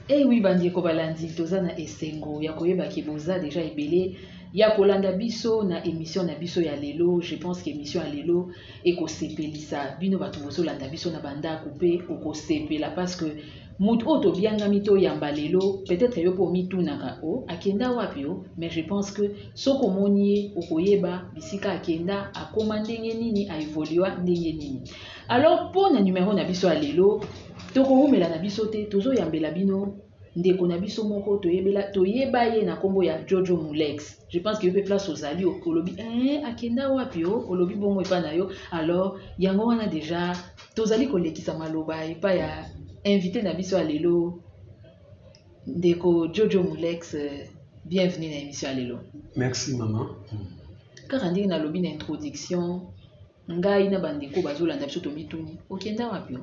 ewi eh bandeko balandi toza na esengo ya koyeba ke boza deja ebele ya kolanda biso na emission na biso ya lelo je pense que emission ya lelo ekosepelisa bino bato bozolanda biso na bandako mpe okosepela parce que Mutu oyo tobiangami toyamba lelo peut etre yo pe omitunaka oh akenda wapi oh mais je pense que soki omoni ye okoyeba bisika akenda akoma ndenge nini a evolua ndenge nini alors po na numero na biso ya lelo tokowumela na biso te tozoyambela bino ndeko na biso moko toyebela toyeba ye na kombo ya jojo mulex je pense que yo pe place ozali olobi eh akenda wapi oh olobi bongo epa na yo alors yango wana deja Tozali kolekisa maloba epai ya invite na biso ya lelo ndeko Jojo Mulex bienvenue na emission ya lelo. Merci maman. Kaka ndenge nalobi na introduction ngai na bandeko bazolanda biso tomituni okenda wapi?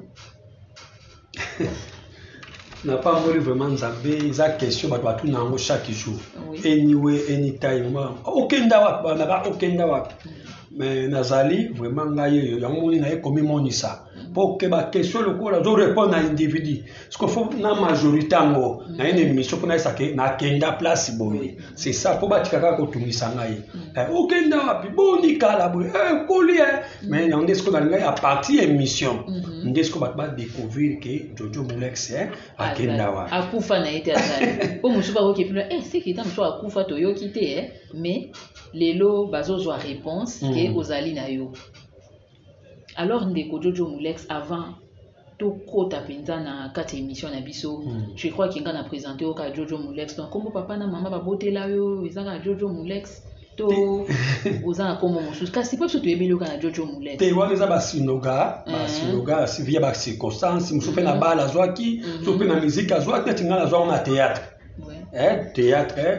na pamboli vraiment nzambe eza question bato batuna yango chaque jour anyway anytime okenda wapi banaka okenda wapi mais nazali vraiment ngai oyo yango moni naye komimonisa mpo okeba question lokola ozo répondre na individu siko fo na majorité yango naye na émission mpo nayesake nakenda place boye c'est ça po batika kaka kotungisa ngai mm. eh, okenda wapi boni kala boye eh, okoli eh. mais yango nde sikoyo balingai ya parti ya émission mm-hmm. nde sikoyo bato badécouvrir ke jojo molex akenda wapi akufa na ye te azali po mosusu bakoki epino e seki ta mosusu akufa toyoki te mais lelo bazozwa réponse ke mm. ozali na yo Alors ndeko Jojo Mulex avant tokota mpenza na kati ya émission na biso hmm. je crois ke ngai na présente yo kaka jojo molex donc nkombo papa na mama babotela yo eza kaka jojo molex to oza na nkombo mosusu kasi mpo biso toyebeli yo kaka na jojo molex te wana eza basinoga eh. basinoga via bacirconstance mosusu mpe na mhm. bale azwaki mosusu mhm. mpe na miziki azwaki neti ngai nazwa ngo na théâtre eh, théâtre eh.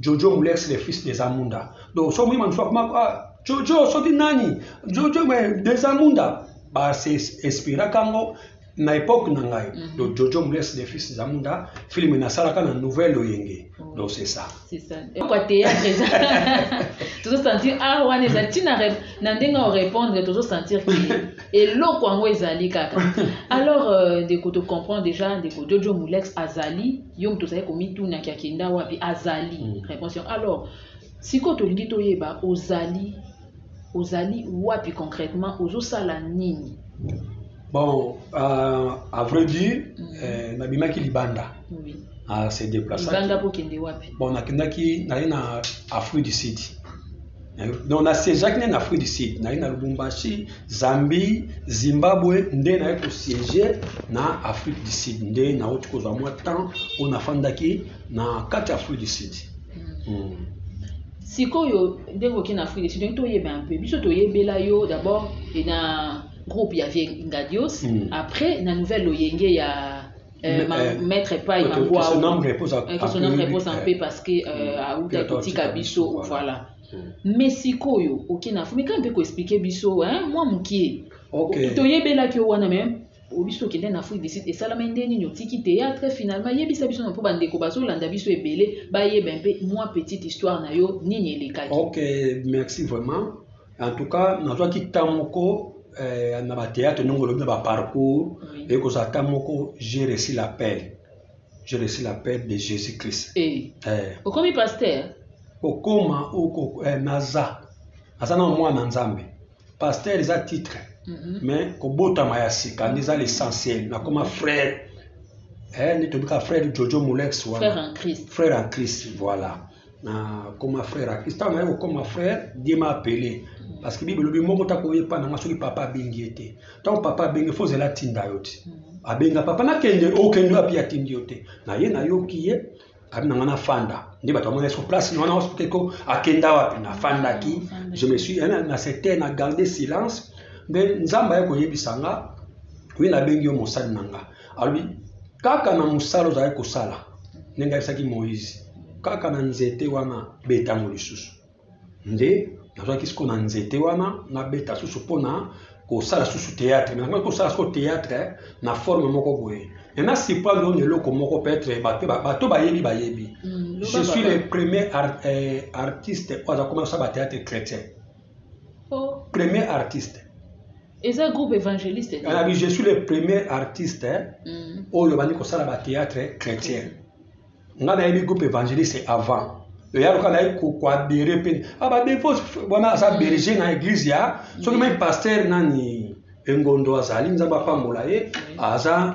Jojo Mulex le fils des Amunda. Donc soki omoni mandusu akoma ah, Jojo soki nani Jojo mais des Amunda ba se inspiraka yango na époque na ngai mm -hmm. donc Jojo Mulex le fils des Amunda film nasalaka na nouvelle oyenge oh. donc c'est ça. C'est ça. Et pourquoi théâtre eza tozo sentir ah wana eza tina na ndenge o répondre tozo sentir que eloko yango ezali kaka. Alors euh, ndeko to comprend déjà ndeko Jojo Mulex azali Yo moto ozali komituna ki akenda wapi, azali mm. reponse yango. Alors sikoyo tolingi toyeba ozali ozali wapi concrètement, ozosala nini? Bon, euh, à vrai dire, mm. euh, nabimaki libanda. Oui. Ah, c'est déplaçant. Libanda pour kende wapi? Bon, nakendaki naye na Afrique du Sud. donc na siégeaki nde na afrique du sud naye na lubumbashi zambie zimbabwe nde naye kosiége na afrique du sud nde nauti kozwa mwa temps oyo nafandaki na kati ya afrique du sud mm. Mm. sikoyo ndenge okei na afrique du sud ndenge toyeba un peu biso toyebela yo d'abord na groupe ya vie ngadios mm. après na nouvelle loyenge ya Euh, ma, euh, maître epai okay, mangwa okay, son âme repose en, okay, son âme repose en paix parce que euh, mm. auta kotika biso voilà, voilà. Mm. mais sikoyo oke na fumi kaka mpe koexplike biso mwa mokie okay. toyebelaki yo wana meme obiso okende na afrique du sud esalama nde nini otiki théâtre finalement yebisa biso na mpo bandeko bazolanda biso ebele bayeba mpe mwa petite histoire na yo nini elekaki ok merci vraiment En tout cas, nazwaki temps moko eh, na batheatre ndenge olobi na baparcours oui. ekozala temps moko j'ai reçu l'appel j'ai reçu l'appel de jésus christ eh. Eh. okomi pasteur kokoma oko eh, naza naza na mwana nzambe pasteur eza titre mm -hmm. mais kobotama ya sika nde eza l'essentiel nakoma frère eh, nde tobika frère jojo molex wana frère en christ, frère en christ voilà na koma frère akisi ntango naye kokoma frère dieu m'a appelé parce que bible elobi moko tako oyepa na nga soki papa abengi ye te ntango papa abengi fo ozela atinda yo te abenga papa nakende okende wapi atindi yo te na ye nayoki ye abi na nga nafanda nde bato bamona sur place na wana hospiteko akenda wapi nafandaki je me suis na secteur na garde silence nde nzambe aye koyebisa nga wi nabengi yo mosali na nga alobi kaka na mosala ozalaki kosala ndenge ayebisaki moïse kaka na nzete wana betango lisusu nde nazwaki siko na nzete wana nabeta susu mpo na kosala susu théâtre mais nakoki kosala siko théâtre na forme moko boye mais na surprendre oyo na eloko moko peut-être bato bayebi bayebi mm, je suis le premier euh, artiste oyo aza koma kosala bathéâtre chrétien Oh. Premier artiste. eza groupe évangéliste alobi je suis le premier artiste mm. oyo bandi kosala bathéâtre chrétien nga nayebi groupe évangéliste avant eya loka naye koadere mpe ah, badefos wana aza mm. berger na église ya soki mai mm. paster nani engondo azali nzambe apambola ye aza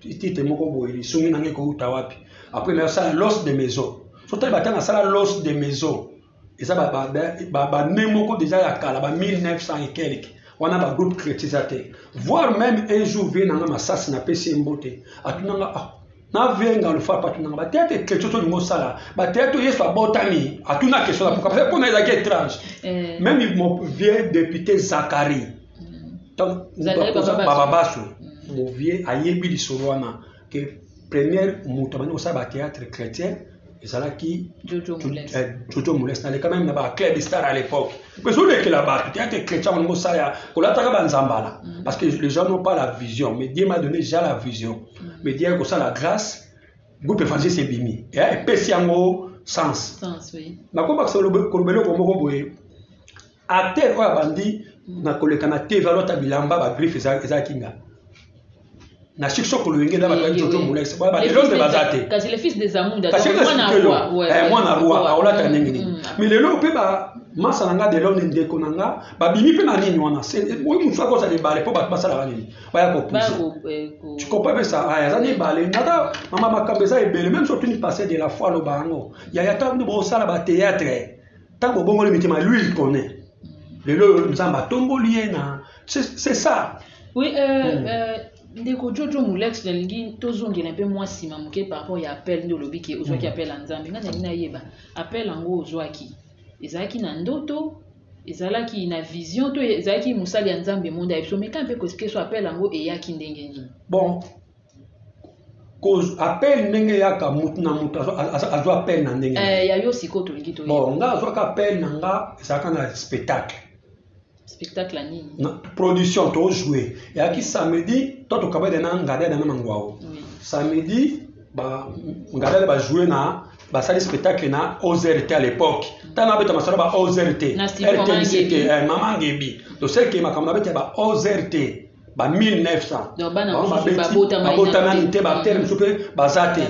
titre moko boye lisungi na ngai ekouta wapi après nasala los de maison so tali bata nasala los de maison eza bane moko deja ya kala ba 1900 et quelque wana bagroupe chrétien eza te voir même un jour vie nanga masasi napesi ye mbote atunanga ah, navenga lufapo atunanga bateyate chrétien tolingi osala bateyate yesu abotami atuna question na poka mpona ezalaki étrange eh. même vieux député zacharie bababaso mm. bovie ayebi lisolo wana ke première moto abandi kosala batheatre chrétien ezalaki jojo moles naleka meme na baclub star à l'époque mais olekela bato theatre chrétien wana mosala ya kolataka banzambala mm. parce que les gens n'ont pas la vision mais dieu m'a donné déjà la vision mm. mais dieu kosala grâce groupe évangile sebimi epesi yango sens nakobakisa kolobela eloko moko boye acteur oyo abandi na koleka na tv alota bilamba bagriffe eza kinga na succès kolenge na bato jojo molex lelo nde baza te kasi mwana roi aolata ndenge nini mais lelo mpe masa na nga delone ndeko na nga babimi mpe na nini wana oyo mosusu akozala ebale mpo bato basalaka nini baya kopuse tikopa mpe sa aya aza na ebale ata mama makambo eza ebele meme soki ni passé de la foi aloba yango yaya ta bosala bateatre ntango obongoli mitema lui il connaît lelo oyo nzambe atomboli ye na c'est ça oui euh, mm. euh, ndeko jojo molex nalingi tozongela mpe mwa nsima moke par rapport ya appel nde olobi ke ozwaki mm. appel ya nzambe ngai nalingi nayeba appel yango ozwaki ezalaki na ndoto ezalaki na vision to ezalaki mosali ya nzambe monde ya biso meka mpe koexplike so appel yango eyaki ndenge nini bon cause appel ndenge eyaka motu na motu azwa appel na ndenge eh, ya yo sikoyo tolingi to bon nga azwaka appel na nga ezalaka na spectacle spectacle nini na production tojoue eyaki samedi to tokabada na ngadada na mangwao samedi ngadada bajoue na basali spectacle na ozrt à l'époque mm. ntango abeta masolo ba ozrt rtmct eh, mama ngebi tosekee makambo na bete ya ba ozrt ba 1900babotami te bactere mosusu mpe baza te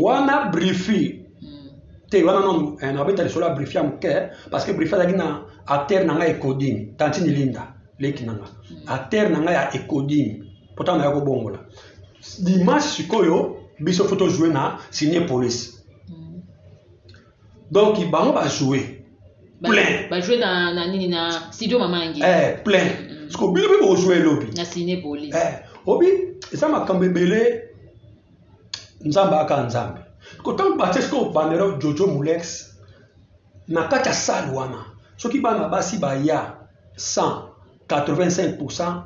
wana brifi hmm. te wana no eh, nabeta lisolo ya brifi ya moke parce que brifi azalaki na acteur na ngai ekodimi tantini linda leki na ngai hmm. acteur na ngai ya ekodimi mpo ntango naya kobongola dimanche sikoyo biso fo tozwe na signe police donc bango ba joue plein ba joue na na nini na studio mamangi eh plein mm. siko bino pe bo joue lobi na ciné police eh obi eza makambo ebele nzambe aka nzambe ko tango batie siko bandero jojo mulex na kati ya salle wana soki bana basi baya 100 85 pourcent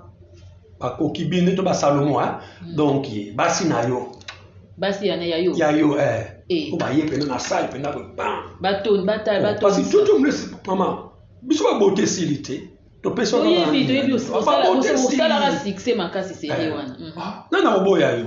bakoki bino to basalomo hein? mm. donc basi na yo basi yana ya yo ya yo eh. eh. po baye mpena na sale mpena boye bam batoni batali oh, batoni toto mlesi mama biso babote esili te topesoyebi toyebi osalaka succès makasi seye eh. wana mm. ah, nani akoboya yo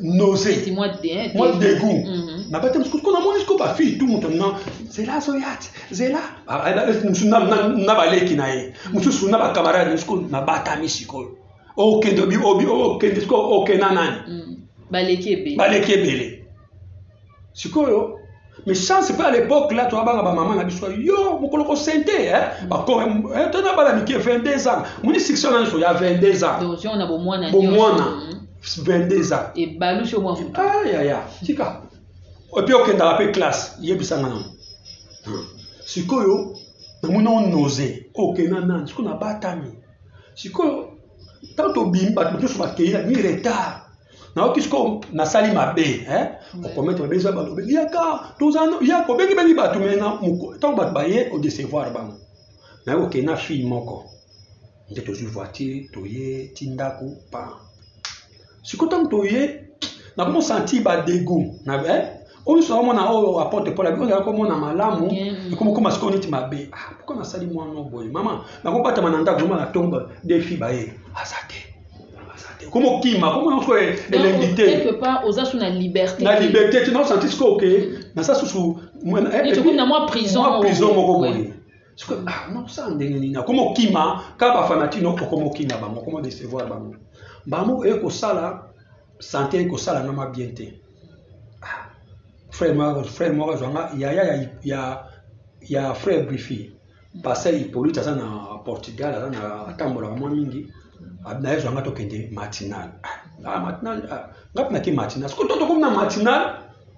nausée Petit mois de hein, moi dégoût. dégoût Mhm. nabate mosuku siko namoni siko bafille tu moto na zela azoya te zela Ah, ah, eh, mosusu na- na na baleki na ye mosusu na bacamarade siko nabatami sikoyo okende obi- obi- okende siko okenda nani Mm. baleki ebele baleki ebele sikoyo mais chance mpe à l'époque là toabanga bamama na biso yo mokolo kosente eh, eh, tona bana mike 22 ans moni succès na nyonso ya 22 ans bomwana 22 ans ebalusi omwa moto ayaya tika epi okendaka mpe classe yebisanga nango hmm. sikoyo namoni onose okenda nani sikoyo nabatami sikoyo ntango tobimi bato mosusu bakei na bimi retard nayoki sikoyo nasali mabe eh? mm. okomete mabe eza balobi yaka tozana yaka obengibengi bato me ntango bato baye odecevoir bango naye kokei na fille moko nde tozwi voiture toye ti ndako pa sikoyo ntango toye nakomo sentir badego na eh? oyo nyonso akomona oyo oh, apote mpo labi oyo azalaki komona malamu mm-hmm. ekomi koma sikoyo neti mabe ah, mpo nasali mwana boye mama nakobatama na ndako zoma na tombe defi baye aza te komokima komona nyonso elengi te oza su na liberté na liberté te naosanti sikoyo ke naza susu eh, na mwa prison moko boye sikoyo ah, nakosala ndenge nini akoma okima kaka bafanatiki no okoma okima bango okoma decevoir bango bango eye kosala sante eye kosala nga ma bien te ah, frère moko frère moko azwanga yaya ya, ya, ya frère brifi pasteur hippolyte aza na portugal aza na atambolaka mwa mingi na ye zwanga tokende matinal ah, ah, matinal nga mpe nake matinal sikoyo to tokomi na matinal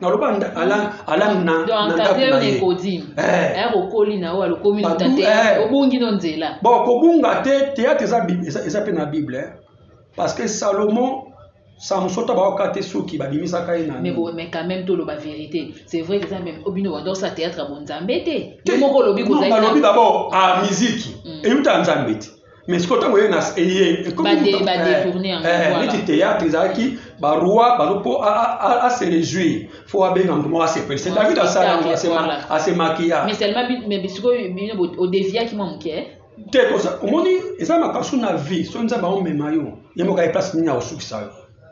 naloba alandu na ndako na ye eh. eh, okoli na oyo alokomi na te eh. obungi no nzela bon kobunga te théâtre eza mpe na bible parce que salomon samson to baoka te soki babimisaka ye nani mais quand même toloba vérité c'est vrai que eza meme obino oh, bandorsa théâtre ya bonzambe te yo moko olobi kozali balobi d'abord a ah, miziki mm. eyuta nzambe te mais sikoyo ntango eye eye ekominiti eh, eh, théâtre ezalaki baroi bazo mpo ase réjouir fo abenga moto moko asepelisa david asala yango asemakiya te omoni eza makasu na vie soki nzambe aomema yo ye moko aye place nini akosukisa yo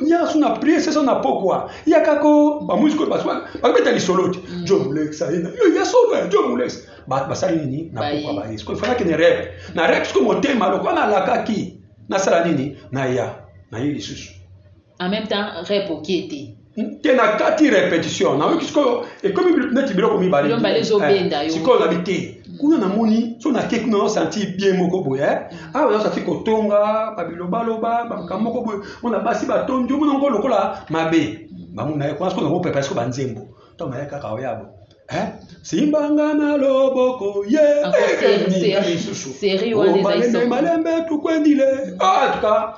nyasu na prie sesa na pokwa yakako bamuziki oyo bakobeta lisolo te mm. jo mulex ayina yo ya solo ya jo mulex basali nini na pokwa baye sikoyo efalaki ne rep na rep sikoyo motema lokola nalakaki nasala nini naya naye lisusu en même temps rep okie te te na kati repetition nayoki sikoyo ekomi neti biloko mibale eh, sikoyo nabi te kuna namoni so nake kuna nasanti bien moko boye eh? mm. awa nasanti kotonga babilobaloba makambo moko boye mona basi batondi omona ngo lokola mabe mm. bango naye kuna sikoyo nakopepa siko banzembo to naye kaka oyabo eh? simbanga na loboko ye eh, lisusu malembe tukwendile ah, tuka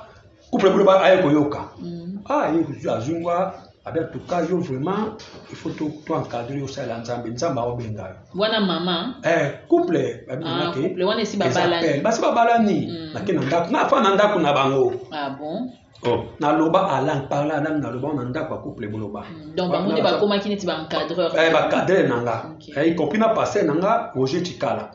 couple bino ba aye koyoka mm. ah ye kuzu azungwa abe tuka yo vraiment il faut to to encadrer yo sala nzambe nzambe awo benga yo wana mama eh couple ba bino ah, ke couple wana si ba balani ba si ba balani mm. na kena ndako na fa na ndako na bango ah bon oh. na loba alang parla alang na loba na ndako ya couple boloba mm. donc bango nde bakomaki neti ba encadreur eh ba cadre na nga okay. eh, y compris na passé na nga roger chikala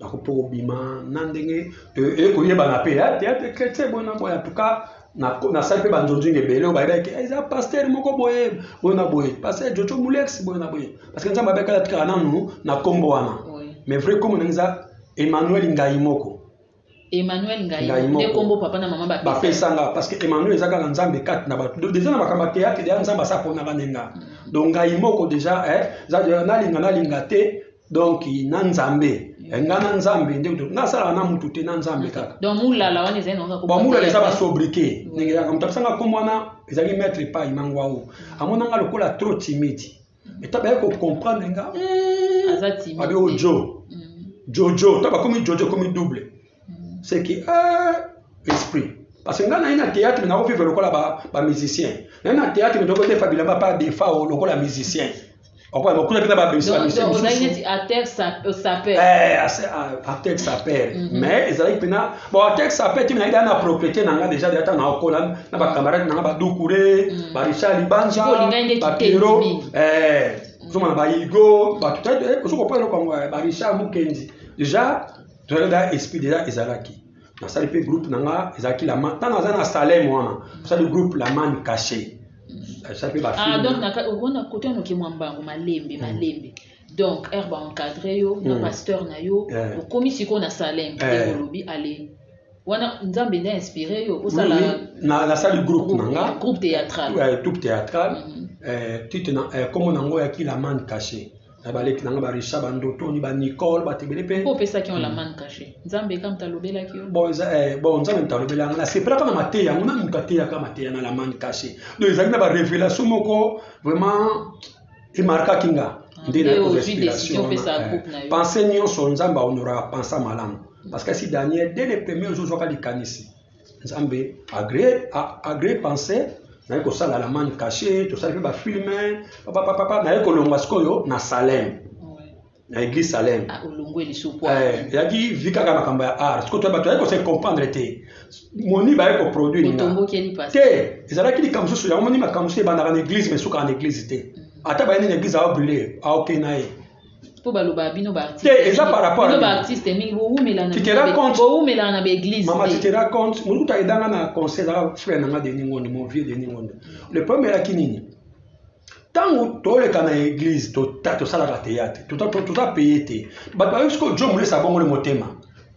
Nako po kobima na ndenge eye koyebana mpe ya teatre chrétien boye na boye en tout cas nasali mpe banzonzinga ebele oyo bayebaki eza paster moko boye boye na boye paster jojo mulex boye na boye parce que nzambe abekala tikala nanu na nkombo wana mais vrai nkombo ndenge eza emmanuel ngai moko Emmanuel ngai nde kombo papa na mama bapesa bapesa nga parce que Emmanuel eza kaka nzambe kati na bato donc déjà na makambo ya théâtre déjà nzambe asa pona nga ndenga mm. donc ngai moko déjà eh za déjà nalinga nalinga te donc na nzambe mm. eh, nga na nzambe nde nasala na mutu te na nzambe mm. kaka donc mulala wana ezali na ba mulala eza ba sobriqué ndenge ya moto apesa nga kombo wana ezali maître pai mangwao amona nga lokola trop timide eta baye ko comprendre nga hmm, aza timide abi o jo hmm. jojo ta ba komi jojo komi double hmm. c'est que euh, esprit parce que nga naye na théâtre mais nakovive lokola ba, ba musicien naye na théâtre mais tokodefa bilamba pa defa o lokola musicien okoyamba kuna mpe na babimisa bamisio mosusu acteur sapeur mais ezalaki mpena bon texte apeti mina ida na propriété na nga déjà déjà na okola na ba camarades na nga ba Doucouré mm. ba Richard Libanja ba Pierrot eh zoma na ba Igo ba tout eh, ozo ko pala ko eh, ba Richard Mukendi déjà tout là esprit déjà ezalaki na sali pe groupe na nga ezalaki la man tanga za na Salem wana sali groupe la man caché ça pe ba ah donc na ko na kote no ke mwamba malembe malembe donc heure ba encadre yo na mm. pasteur na yo yeah. okomi sikoyo na salem yeah. Eh. olobi ale wana nzambe nde inspiré yo osala nasali groupe na nga groupe théâtral ouais, eh, troupe théâtral mm -hmm. eh, titre na eh, kombo na ngo ya kilaman caché na baleki na nga barisa bandotoni banicole bato ebele mpe mpo opesaki yo laman mm. caché nzambe kaka moto alobelaki yo bon eh, nzambe moto alobela yanga nasepelaka na mateya yango na moto ateyaka mateya na laman caché donc ezali na barévélation moko vraiment emarkaki nga ah, nde nayo respiration eh, pense nyonso nzambe aonoraka pensa malamu parce que si daniel dès le premier ozozwaka likanisi nzambe agré agré pense naye kosala la mane cache tosali mpe bafilme papapapapa naye kolongwa sikoyo na salem na église salem ah, olongwe liso po eh, yaki vi kaka makambo ya art sikoyo toya bato yaki kose comprendre te moni baye koproduire nga te ezalaki likambo mosusu yango moni makambo mosusu ebandaka na église mais esukaka na église te mm. ata bayende na église aobrule aoke na ye mpo balobaka bino baartiste eza par rapport bino baartiste mingi bowumelaka na baeglise mama tu te rends compte motu kuta edanga na conseil ezalaka frère na nga denis ngondo mon vieux denis ngondo le problème elaki nini ntango toleka na eglize tota tosalaka teyate tota, tota, tota peye te bato bayoki sikoyo jo molesa abongoli motema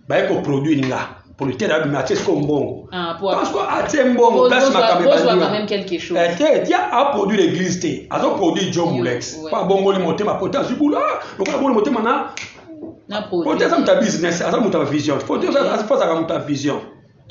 baye koproduire nga producteur abimi atie sikoyo mbongo ah, parce que atie mbongo place makambo ebandite tia aproduire eglize te azoproduire jo molex mpo abongoli motema pota azwi bula ah, lokola abongoli motema na pota aza moto ya business aza moto ya vision pota azaka moto ya vision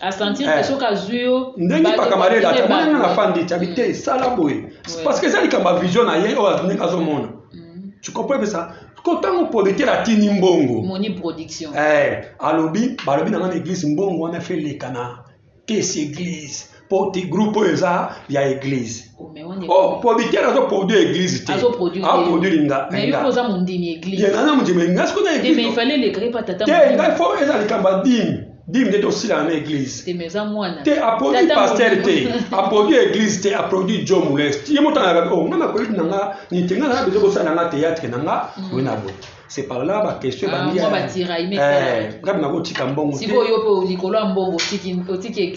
a sentir que Eh. soki azwi yo ndenge bale- pakamare elata bale- mwana na fandi tabi te sala boye Ouais. parce que eza likambo ya vision na ye oyo azo- ndenge azomona Mhm. tu comprends pe ça ko ntango producteur atindi mbongo moni production Eh, alobi balobi na nga na eglise mbongo wana fe eleka na kesi eglise po te groupe oyo eza ya eglise Oh, mais on est- oh producteur azo produire eglise te Azo produire te. aproduire nga mais yo mpe oza mondimi ye eglise nga na mondimi nga sikoyo na te mais il eglise fallait lekaka epa tata te nga fo eza likambo ya dime bim nde tosilana na église te aproduit pasteur te aproduit église te aproduit jo molest ye moto ayaka o nga makoyiti na nga nite nga naa bezo kosala nga théâtre na nga mm. boye na boye c'est par là baquestion ah, ebandi eh, ngabi nakotika mbongo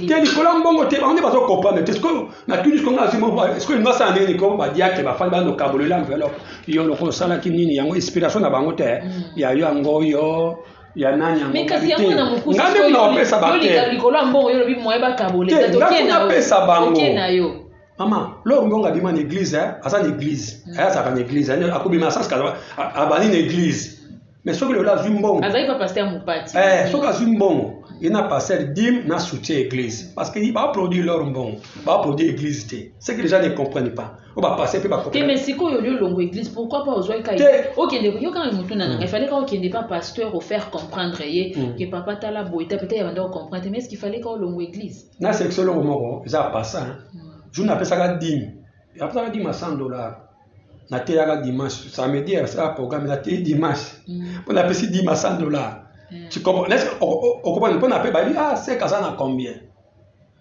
te likolo ya mbongo te bango nde bazokomprendre te sikoyo natuni siko nga sikoyo lingo asala ndenge niko badiake bafandi bando kabolela enveloppe yo loko osalaki nini yango inspiration na bango te mm. ya yo yango yo ya nani yango mais kasi yango na mokuse ngai mpe nawapesa bateolinga likolo ya mbongo yo lobi moye bakabole te ngai mpe napesa bango na yo mama lor mbongo abima na église eh, aza na église mm. eh, azalaka na église eh, akobima asanske abandi na église mais soki lelo azwi mbongo azali pa paster mopati soki azwi mbongo ye na paster dime na soutien église parce que baproduit lor mbongo baproduit église te ce que les gens ne comprennent pas po ba passer pe ba te mais sikoyo yo longo église pourquoi pas ozwaki kai okende yo kanga motuna nanga il fallait ka okende pa pasteur au faire comprendre ye mm. que papa tala boye ta peut-être banda comprendre mais est-ce qu'il fallait ka longo église na section longo moko eza passa hein mm. jour na pesaka dime apesaka dime 100 dollars na teyaka dimanche samedi asala programme na teyi dimanche mm. po na pesi dime 100 dollars tu comprends est-ce que okopani po na pe bayi ah c'est kaza na combien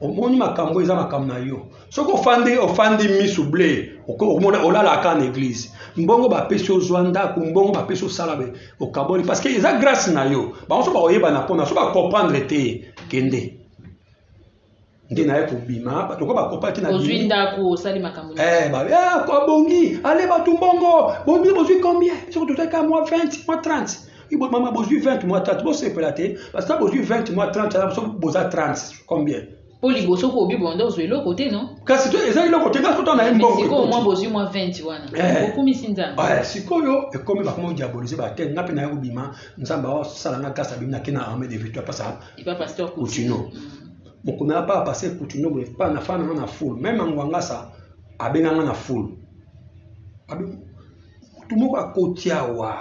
omoni makambo eza makambo na yo soki ofandi ofandi misu ble omona olalaka na eglise mbongo bapesi ozwa ndako mbongo bapesi osala be okaboli parce que eza grâce na yo bango so bakoyebana mpona so bacomprendre te kende nde naye kobima bato ko bakopaki na ozwi ndako osali makambo eh, ba, eh, abongi ale bato mbongo boni bozwi combien soki tozwaka mwa 20 mwa 30 Ibo mama bozui 20 mois 30 bosepela te parce que bozui 20 mois 30 wana biso boza 30 combien mpo liboso ko obi bonda ozwa eloko te no kasi to eza eloko te kasi totana ye mbongo sikoyo mwa bozwi mwa 20 wana eh. okumisi nzambe eh, sikoyo ekomi bakoma odiabolise bate nga mpe naye kobima nzambe aosala nga kasi abimi nake na arme de victoire pasa kutino mm. mokomi apa apase kutino boye pa nafana nga na foule meme angwangasa abenganga na foule motu moko akoti awa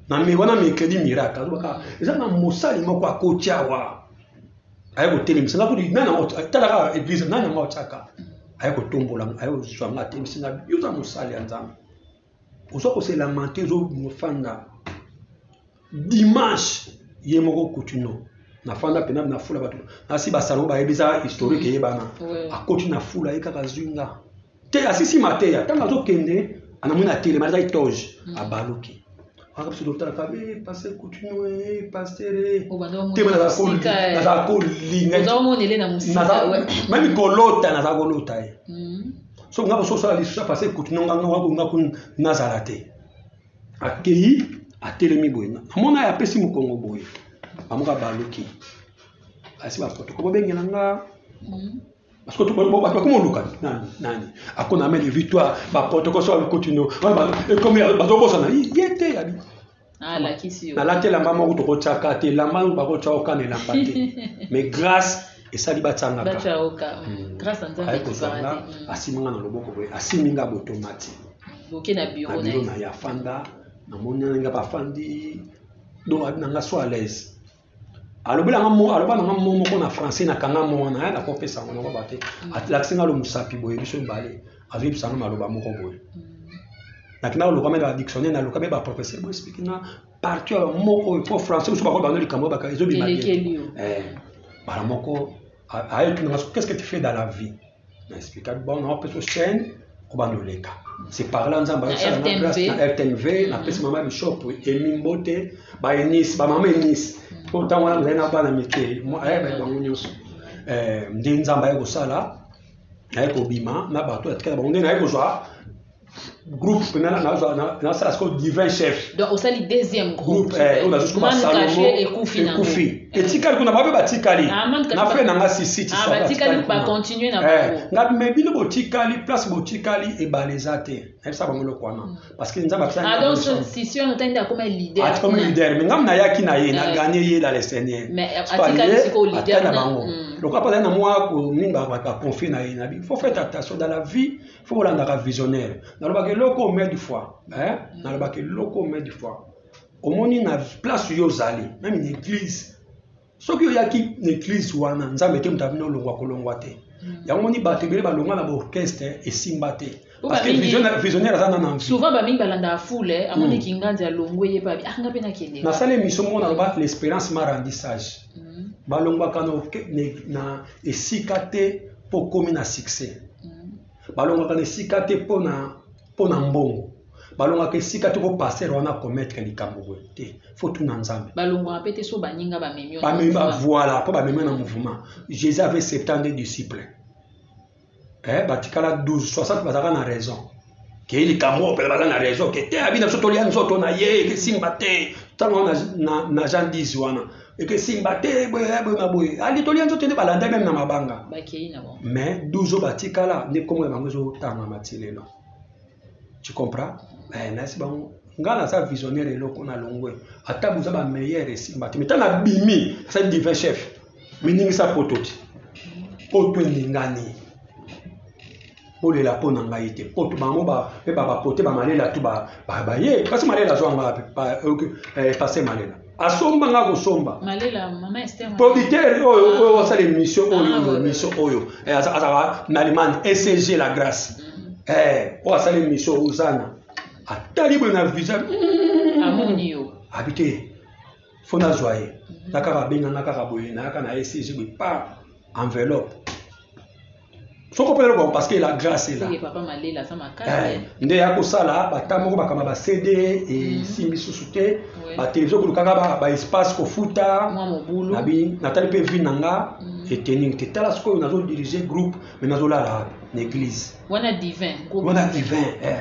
na me wana mercredi miracle azobaka eza na mosali moko akoti awa aye kotelemisa nga kudi nani talaka eglise nani yango atyaka aye kotombola aye kozwa nga atelemisi nga yo oza mosali ya nzambe oza koselamante ozofanda dimanche ye moko kutino nafanda pena na fula bato nasi basango bayebi eza historique eyebana akoti na fula ye kaka zwi nga te asisi mateya ntango azokende anamoni atelema azaki toge hmm. abaluki aka biso totala fabe eh, paster coutinho eh, paster eh. oh, te nazala kolinga meme kolota nazala kolota ye hmm. so nga boso osala lisusu ya paster coutinho ngangakolinga kuna nazala te akei atelemi boye namona ye apesi mokongo boye bamoka baluki asi baprotokole babengela nga hmm. Parce que tout bato bakoma oluka nani nani akona ameli victoire baprotocole so alukotino ekomi bazobosana ye te yabi nalati elamba moko tokotyaka te elamba yango bakotya oka na elamba te mais grâce esali batyangaka ayekozanga asimbi nga na loboko boye asimbi nga botomati na biro na ye afanda namoni nga bafandi donc abi na nga so à l'aise alobela nga mo aloba na nga mo moko na français na kanga mo wana ya na kopesa ngo nako bate atlakisi nga lo musapi boye biso mibale azwi bisa nga maloba moko boye naki na lokama na dictionnaire na lokama ba professeur bo explique nga partout ya moko oyo po français musu bako bando likambo baka ezo bima bien eh bala moko ayo tuna nga qu'est-ce que tu fais dans la vie na explika bon na peso chaîne kobanda oleka c'est par là nzambe ayokisana na place na rtnv napesi mama bishop emi mbote ba enis ba mama enis mpo ntango wana mozali na bana mike ayeba bango nyonso nde nzambe aye kosala naye kobima na bato atikala bango nde naye kozwa groupe nasala sikoyo divin chef donc osali deuxième groupe eh, oyo nazwi koma salomo ekufi etikali kuna babe batikali ah, na fre na nga sisitisabacontinue ah, eh, nga me bino botikali place botikali ebale eza te nayebisa bango eloko wana hmm. parce que nzambe akomi leader me ngam nayaki na ye na eh. gagne ye la le seigneur ata na bango hmm. lokola mpo azali na mwa koninga baconfie na ye nabi faut faire attention dans la vie fo olandaka visionnaire nalobaka eloko omie du fois eh? Mm. nalobaka eloko omie du fois omoni na place yo ozali meme na église soki oyaki na église wana nzambe te moto abino olongwa kolongwa te mm. yango moni bato ebele balongwa na baorchestre esimba te parce que visionnaire aza nana souvent bamingi balandaka foule eh, amoni mm. kinganzi alongwe ye pabi anga ah, mpe nakende nasali émission moko naloba l'espérance ma rendi sage balongwaka na esika te mpo okomi na succès balongaka na esika te mpo na mpo na mbongo balongaka esika te mpo pastere wana kometre likambo boye te fo tuna nzambe balongaka mpe te so baninga bamemi bamemi bavoila mpo bamemi na mouvement jésus avait 70 disciples eh, batikala 12 60 bazalaka na raison ke likambo oyo mpela baza na raison ke te abi na biso tolia nzoto na ye ekesimba te ntango wana na jean 10 wana ekesimba te boye na boye ali tolia nzoto nde balanda meme na mabanga mais 12 oyo batikala nde nkombo ya bango ezotangama ti lelo tu comprends eh, nayesi bango ngai naza visionnaire eloko na longwe ata boza bameilleur esimba te meta nabimi asali divin chef miningisa poto ti poto eningani bolela mpo na ngai te mpo bango mpe babapote bamalela tu baye kasi malela azwa nga eh, pase malela asomba nga kosomba producteur oyo ah. oyo asala émission ah, oyo émission oyo eh, azalaka na allemagne ecg la grâce mm-hmm. eh, oyo asala émission ozana atali boye na visa abi te fo nazwa ye mm-hmm. na kaka abenganga kaka boye nayaka na ecg boye pa enveloppe soko mpe eloko parce que la grâce est là Seke papa malela aza makasi Eh, nde ya kosala bata moko bakamba ba cd esimbi susu te Ouais. batelevizio kolukaka ba- ba espace kofuta mwa mobulu Nabi- natali mpe vie na nga Mm. etening te tala sikoyo nazo dirige groupe me nazolala na église wana divin groupe wana divin eh.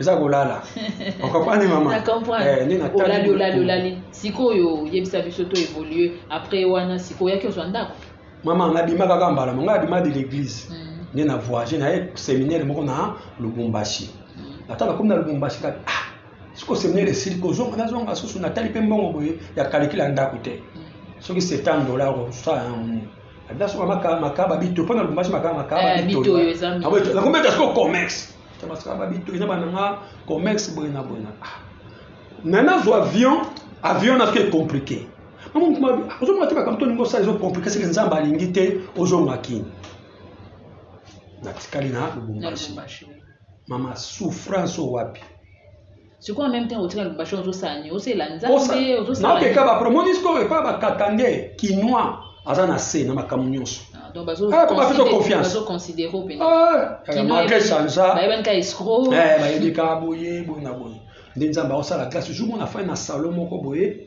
eza kolala okomprendre mama eh, nde natalolali olali olali sikoyo oyebisa biso to évolue après wana sikoyo oyaki ozwa ndako mama nabima kaka mbala mo ngai abima de l'église hmm. nde na voyage naye séminaire moko na lubumbashi hmm. ata nakomi na lubumbashi kaka ah siko séminaire esili kozonga nazonga susu natali mpe mbongo boye ya kalikila ndako te hmm. soki 70 dollar osala yango abida soka makaba bito mpo na lubumbashi makaba makaba eh, bito nakometa siko commerce tabasaka babi to eza bana nga commerce boye na boye na ah. na nazwa avion avion nazo e compliqué ozomona te bakamto olingi osala ezo compliqué seke nzambe alingi te ozonga kini natikali na lubumbashi mama souffrance oyo wapi sikoyo meme temps otika lubasha ozosala nini osalela nzambe ozosalaokeka bapromoni sikoyo epa bakatande kinois aza na se na makambo nyonso malgre sanza bayebika boye boye na boye nde nzambe aosala grâce jour mona fai na salon moko boye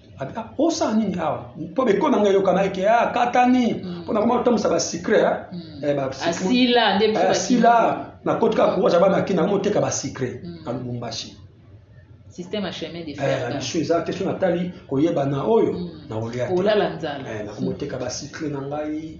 ata osala nini awa mpo beko na ngai eyokana eke a ah, katani mpo mm. nakoma kotambusa basicre eh? mm. eh, asila eh, nakoti kaka kowaza bana ki nakoma oteka basicre mm. na lubumbashi biso eza te so natali koyebana oyo nakolya te nakoma oteka basicre na ngai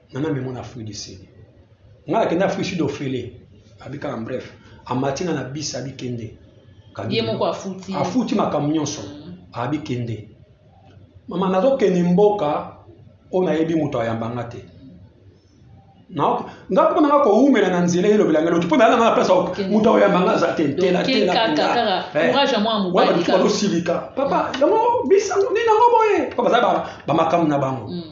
nana memo na afrique du sud nga nakenda afrique sud ofele abi kaka bref amati nga na bis abi kende ye moko afuti afuti makambo nyonso mm. abi kende mama nazokende mboka oyo nayebi moto ayamba nga te nga mpo nanga kowumela na nzela elobela ngai loki mpo nayala nga na place moto akoyamba nga aza te ntelatelatelawana basilika papa yango bisango nini yango boye mpo baza bamakambo na bango mm.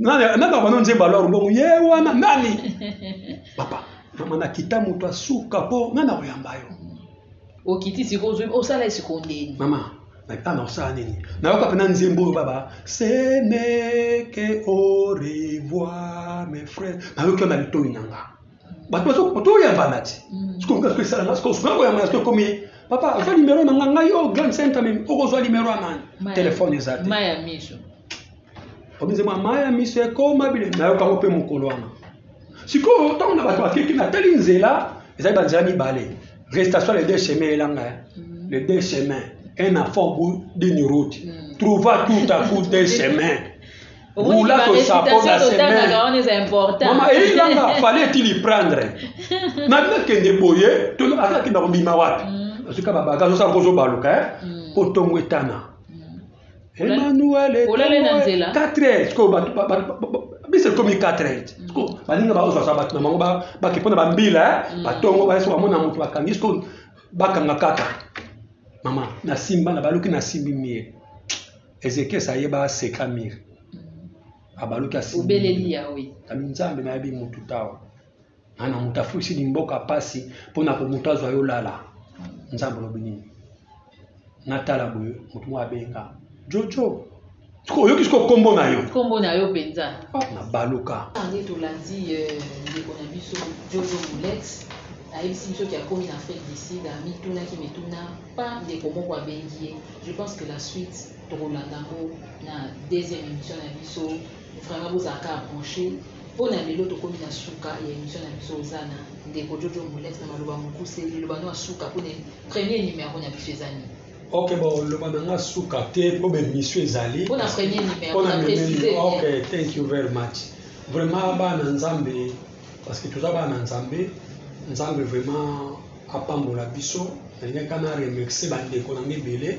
nabaka no nzembo alor bongo ye wana nani papa mama nakita moto asuka mpo nga na koyamba yo okiti sikoyo ozwi osala ye sikoyo ndeni mama nakita na osala nini nayoka mpena nzembo oyo baba seneke au revoir mes frères nayoki yo na litoi na nga bato toyambana ti mm. sikoyo nga esalanga sikoyo soki nakoyambana sikoyo ekomi papa ozwa nimero na nga ngai o oh, grand centre meme okozwa nimero ya nani telefone eza te omize mwa mai ya miso ekoma bilenge nayoka yango mpe mokolo wana sikoyo ntango na bato bakeki natali nzela ezali banzela mibale restation les deux chemins elanga ya mm. les deux chemins un enfant bout d'une route mm. trouva tout à coup deux chemins roula to chapeau na semaine mama eyelanga fallait est-il y prendre nabi nakende boye to azakenda kobima wapi mm. azoka babaka azosala kozobaluka eh? kotongo etana Emmanuel est olale na nzela 4 heures sikoyo bato biso ekomi 4 heures mm. sikoyo balinga baozwasa bato na bango bake mpo na bambila eh? mm. batongo bayeso bamona moto bakangi sikoyo bakanga kaka mama nasimba na baluki nasimbi mire ezekias ayeba aseka mire mm. abaluki asimbi nzambe nayebi motu tawa ana moto afulisi limboka mpasi mpo na komoto azwa yo lala nzambe olobi nini natala boye moto moko abenga jojo oyoki siko nkombo na yo nkombo na yo mpenza ah, na baluka nde tolandi eh, ndeko na biso jojo molex ayebisi biso ke akomi na afrique du sud amitunaki mituna pa ndeko moko abengi ye je pense que la suite tokolanda yango na deuxième émission na biso Vraiment bozala kaka branche po na lelo tokomi na suka ya emission na biso oza na ndeko jojo molette na maloba mokuse liloba no ya suka po na premier numero na biso eza nini ok bon loba na nga suka te po ba emission ezali po na premier numero po na préciser ok thank you very much vraiment bana nzambe parce que toza bana nzambe nzambe vraiment apambola biso nalinga ka na remercie bandeko na nga ebele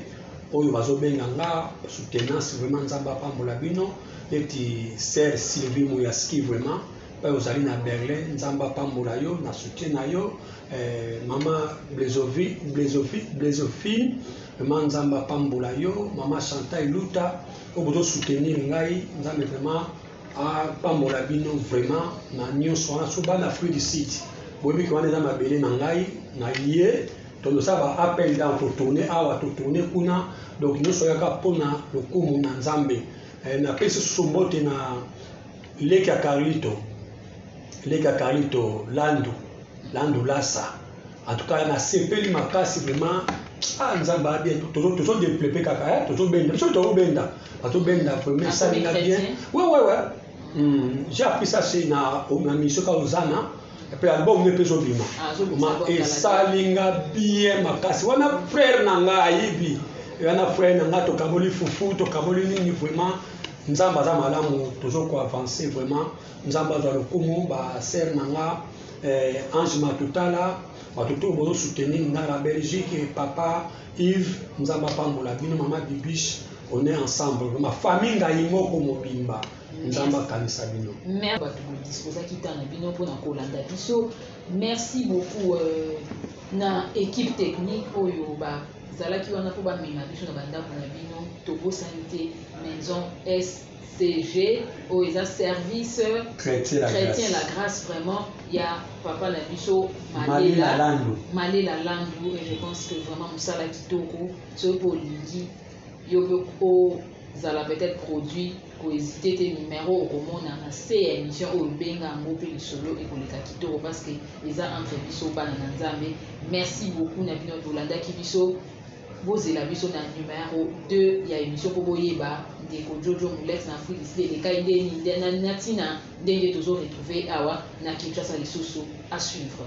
oyo bazobenga nga soutenance vraiment nzambe apambola bino neti ser sylvie moyaski vraiment oyo ozali na berlin nzambe apambola yo na soutien na yo eh, mama blezovi blezovi blezofine vraiment nzambe apambola yo mama chanta eluta oyo bozosoutenir ngai nzambe vraiment apambola bino vraiment na nyonso wana so bana afrique du sud boyebi ke wana eza mabele na ngai na ye tondosala ba appel dan totourne awa totourne kuna donc nyonso yaka mpona lokumu na nzambe eh, napesi susu mbote na leki ya carlito leki ya carlito landu landu lasa En tout cas, na sepeli makasi vraiment. Ah, nzamba a bien. Tozo tozo dépleper kaka, hein. Tozo benda. Biso tozo benda. Tozo benda vraiment ça na bien. Ouais ouais ouais. Hmm, j'ai appris ça c'est na au na mission ka ozana. Et puis album ne peut pas bima. Ah, Ma et ça linga bien makasi. Wana frère na nga ayibi. Wana frère na nga tokaboli fufu, tokaboli nini vraiment. Nzamba za malamu tozo ko avancer vraiment. Nzamba za lokumu ba sœur na nga. Eh, Ange Matutala, bato to bozo soutenir nga na Belgique, eh, papa Yves, Nzambe apambola bino, mama Bibiche, on est ensemble, ma famille ngai moko mobimba, Nzambe akanisa bino. Merci bato bo disposaki temps na bino mpo na kolanda biso. Merci beaucoup euh, na équipe technique oyo bazalaki wana mpo bamema biso na bandako na bino. Tobosani te Maison S CV oyo eza service Chretien la Chretien Grace. la Grace vraiment ya papa na biso Malela Malela Landu. Malela Landu et je pense que vraiment mosala kitoko soki pe olingi yo pe ozala peut-être produit ko hesiter te numero okomona na se ya emission oyo benga yango pe lisolo ekoleka kitoko parce que eza entre biso bana na Nzambe merci beaucoup na bino bolandaki biso Bozela biso na numero deux ya emission po boyeba ndeko Jojo Mulex na Afrique du Sud elekai ndeni na tina ndenge tozo retrouver ye awa na Kinshasa lisusu. A suivre.